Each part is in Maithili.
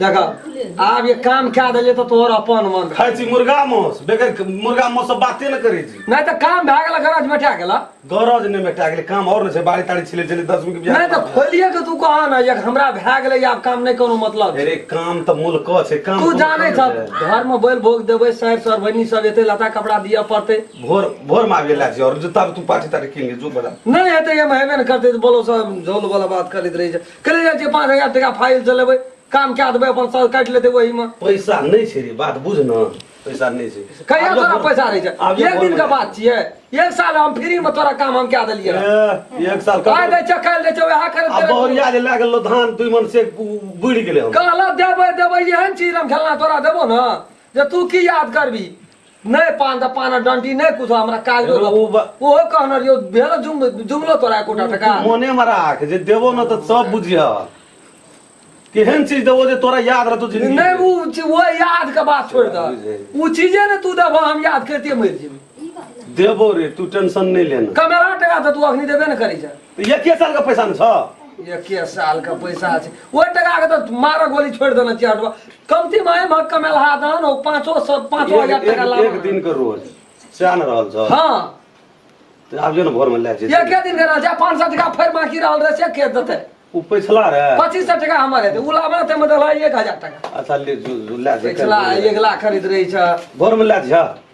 देखा आब ये काम क्या देले तो तोहर अपन मन खाय छी मुर्गा मांस बेगर मुर्गा मांस से बाते न करे छी नहीं तो काम भा गेला गरज मेटा गेला गरज नहीं मेटा गेले काम और न छै बारी तारी छिले छिले 10 मिनट नहीं तो खोलिए के तू कहा ना एक हमरा भा गेले आब काम नहीं कोनो मतलब अरे काम त मूल क छै काम तू जाने छ घर में बैल भोग देबे सर सर बनी सब एते लता कपड़ा दिया पड़ते भोर भोर में आबे लाग और जूता तू पाटी तारी किन ले जो बड़ा नहीं हेते हम हेबे न करते बोलो सब झोल वाला बात करत रही कले जाइ छियै पाँच हजार टाका फाइल से लेबै काम कए देबै अपन साल काटि लेतै ओहिमे पैसा नहि छै रे बात बुझ ने पैसा नहि छै कहिया आब तोरा जब- पैसा रहै आब छै जब एक दिन के बोलबै। बात छियै एक साल हम फ्री मे तोरा काम हम कए देलियै ए, एक साल आइ दै कब छै काल्हि दै छै वएह आ करैत बहुरिया जे लए गेलो धान दुई मन से बुड़ि गेलै हम कहला देबै देबै एहन चीज हम खेलना तोरा देबो ने जे तू की याद करबी नहि पान तऽ पान डंटी नहि कुछ हमरा काज ओ बा- ओहो कहने रहियो भेल जुम जुमलो तोरा एकोटा टका मोने में राख जे देबो न तऽ सब बुझिह केहन चीज देबो जे तोरा याद रहतो जिंदगी नहि में। ओ चीज- ओ याद के बात छोड़ दे ओ चीजे ने तू देबो हम याद करते मर जेबी देबो रे तू टेंशन नहीं लेना कमेरा टका तऽ तू अखनी देबे ने करै छै तऽ एके सालके पैसा ने छौ एके सालके पैसा छै ओहि टाकाके तऽ मारऽ गोली छोड़ि देने छियै हटबा कमती माय मह कमेलहा दहन ओ पाँचो सौ पाँचो एक हजार टाका एक- लाभ एक दिनके रोज सएह ने रहल छौ हँ तऽ आब जो ने भोरमे लए जैसे एके दिन के रहल छै पाँच सौ टाका फेर बाकी रहल रहे से के देतै ओ पैसला रे पच्चीस सौ टाका हमर हेतै ओ लाभ रहतै मतलब एक हजार टाका अच्छा ले जो- जो लए जैसे। पैसला एक लाख खरीद रही छै भोरमे लए जा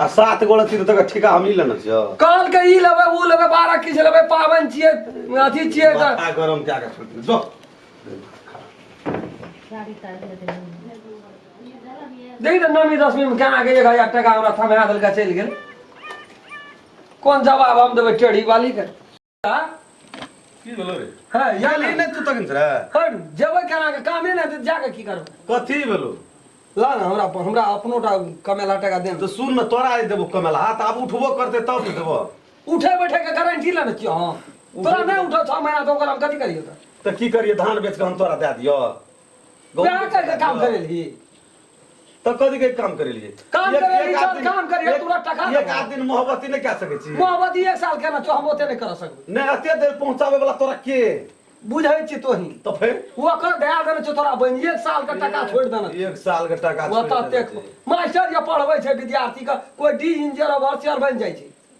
आ सात गोला तीर तक ठेका हम ही लेना छियो कहल के ई लेबै ऊ लेबै बारह किछ लेबै पाबनि छियै अथी छियै तऽ माथा गरम कए कऽ छोड़ि दियौ। जो देखी तऽ नौमी दसमीमे केना के एक हजार टाका हमरा थमा देलकै चलि गेल कोन जवाब हम देबै टेढ़ी वालीके की भेलो रे हाँ या याली नहीं तू तक रे हट जबे करा के कामे ना दे जाके की करब कथी भेलो ला ना हमरा अपन- हमरा अपनो टा कमेला टका दे तो सुन न तोरा आइ देबो कमेला हाथ आब उठबो करते तब न देबो उठे बैठे के गारंटी लेने छियो हां तोरा नहीं उठो छह महीना तो ओकर हम कथी करियो त तो की करिए धान बेच के हम तोरा दे दियो प्यार करके काम करे ली तो कथी के काम करे लिए काम एक- करे एक लिए, आध दिन- काम करे लिए, एक- तोरा टका एक देबो। आध दिन मोहब्बती नहीं कह सके छी मोहब्बत एक साल के ना तो हम ओते नहीं कर सकबे नहीं अते देर पहुंचावे वाला तोरा के बुझै छी तोही तो फिर ओकर दया देने छौ तोरा बहिन एक साल के टाका छोड़ि देने छौ। एक साल के टाका छोड़ ओतऽ देने तेक छी। मास्टर जे पढ़बै छै विद्यार्थी के कोई डी इंजीनियर अवर सियर बनि जाइ छै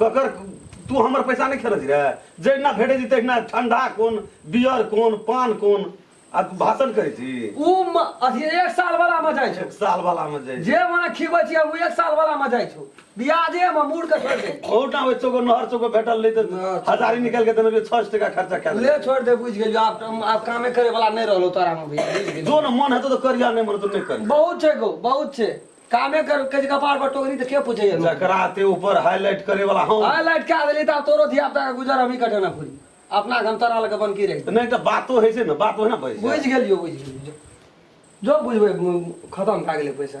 ककर तू हमर पैसा नहि खेलै छी रे जहिना भेटै छी तहिना ठंडा कोन बियर कोन पान कोन आ भाषण करै छी उ म- अथी एक साल वाला में जाय छौ एक साल वाला में जाइ जे मने खिबै छी उ एक साल वाला में जाय छौ ब्याजे में मूड़ के छोड़ दे ओटा होइ चोको नहर चोको भेटल रही तऽ हँ, हजारी निकाल के देने रही छह सौ टका खर्चा कए ले देने छोड़ दे बुझ गेलियो आब हम- आब कामे करे वाला नहीं रहलो तोरा में भैया बुझ गेलियो जो न मन हेतौ तऽ करिया नहि मन हेतौ नहि करिया बहुत छै गो बहुत छै कामे कर के कपार पर टोकरी त के पूछे लोग जकरा ते ऊपर हाईलाइट करे वाला हम हाय लाइट क्या देली त तोरो धिया पुता के गुजर हमही कटे ना पूरी अपना घम तोरा लगे बन की रही नहीं तो बातो है से ना बात होना भाई बुझ गेलियो बुझ गेलियो जो जो बुझबै खत्म भए गेलै पैसा